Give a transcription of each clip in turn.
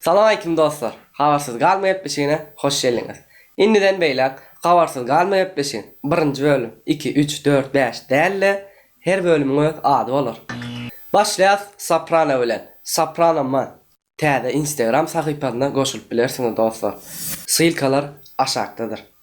Salam aleýkum dostlar! Habarsyz galma gepleşigine hoş geldiňiz! Indiden beýläk Habarsyz galma gepleşigiň, birinji bölüm, iki, üç, dört, bäş däl-de, her bölümiň öz ady bolar. Başlaýas Soprano bilen, Soprano Man täze Instagram sahypasyna goşulyp bilersiňiz dostlar. Ssylkalar aşakdadyr.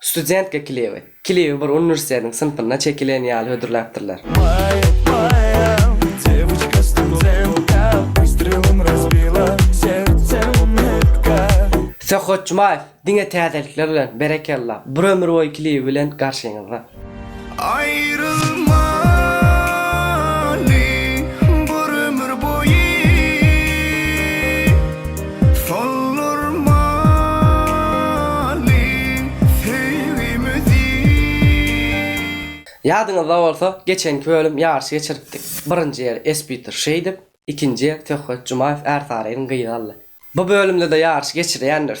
Studentge klibi. Klibi bir uniwersitetiň synpynda çekilen ýaly hödürläpdirler. Söhbet Jumaýew diňe täzelikler bilen, berekella, bir ömür boýy klibi bilen garşyňyzda. Aýrylmaly bir ömür boýy Soldurmaly söýgimizi. Ýadyňyzda bolsa, geçenki bölüm ýaryşy geçiripdik. Birinji ýeri Espiter Şeýdip, ikinji ýeri Söhbet Jumaýew Ärsarynyň gyzy aldy. Bu bölümde-de ýaryşy geçirýändiris.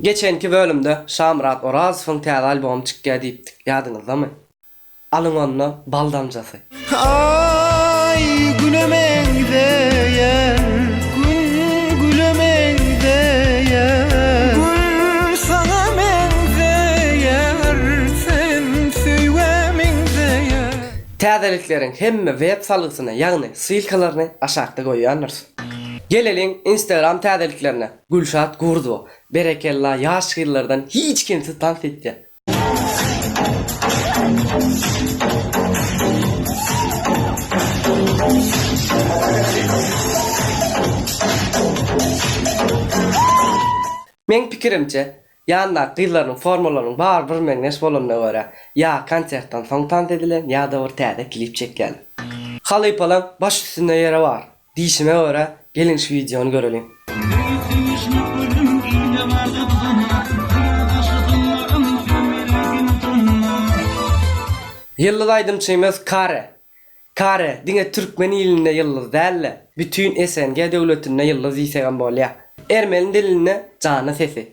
Geçenki bölümde Şamyrat Orazowyň täze albomy çykýar diýipdik, ýadyňyzdamy? Alyň onda bal damjasy. Aý güne meňzeýär, gün güle meňzeýär. Gül saňa meňzeýär, sen söýgä meňzeýär. Täzelikleriň hemme web salgysyny ýagny ssylkalaryny aşakda goýýandyrys. Geleliň Instagram täzeliklerine. Gülşat Gurdowa berekella ýaş gyzlardan hiç kemsiz tans etýär. Meň pikirimçe ýandaky gyzlarynyň formalarynyň bary bir meňzeş bolanyna görä ýa konsertden soň tans edilen ýada bir täze klip çekýäler. Halypalaň baş üstünde ýeri bar. Diýşime görä geliň şu wideony göreliň. Ýyldyz aýdymçymyz Kare. Kare diňe türkmen ilinde ýyldyz dälde bütin SNG döwletinde ýyldyz diýsegem bolýa. Ermeni dilinde jana sesi.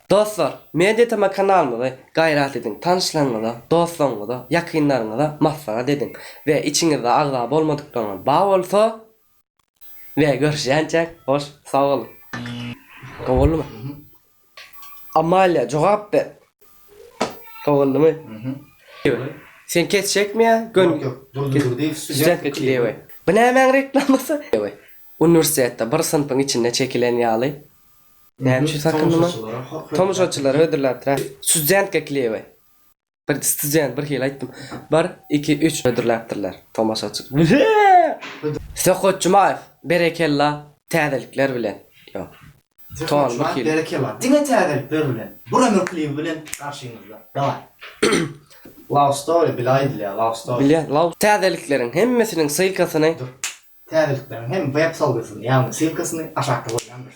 Dostlar, MediaTema kanalymyzy gaýrat ediň, tanyşlaryňyza, dostlaryňyza, ýakynlaryňyza maslahat ediň we içiňizde agza bolmadyklaryňyz bar bolsa we görüşýänçäk hoş sag boluň. Gowy boldumy? Amalia jogap ber. Gowy boldumy? Sen kesjekmi ýa gön Studentga çydaýawe. Bu nämäň reklamasy? Uniwersitetde bir synpyň içinde çekilen ýaly. Näme üçin sakyndyma? Tomaşaçylara hödürläpdir-ä. Studentka klewe. Bir student bir hili aýtdym. Bir, iki, üç hödürläpdirler tomaşaçy. Söhbet Jumaýew, berekella täzelikler bilen. Ýok. Ton bir hili. Berekella. Diňe täzelikler bilen. Bir ömür klibi bilen garşyňyzda. Daway. Love story bile aýdylýar. Love story. Bilýän. Love. Täzelikleriň hemmesiniň ssylkasyny Täzelikleriň hem web-sowdasyny, ýagny ssylkasyny aşakda goýýandyr.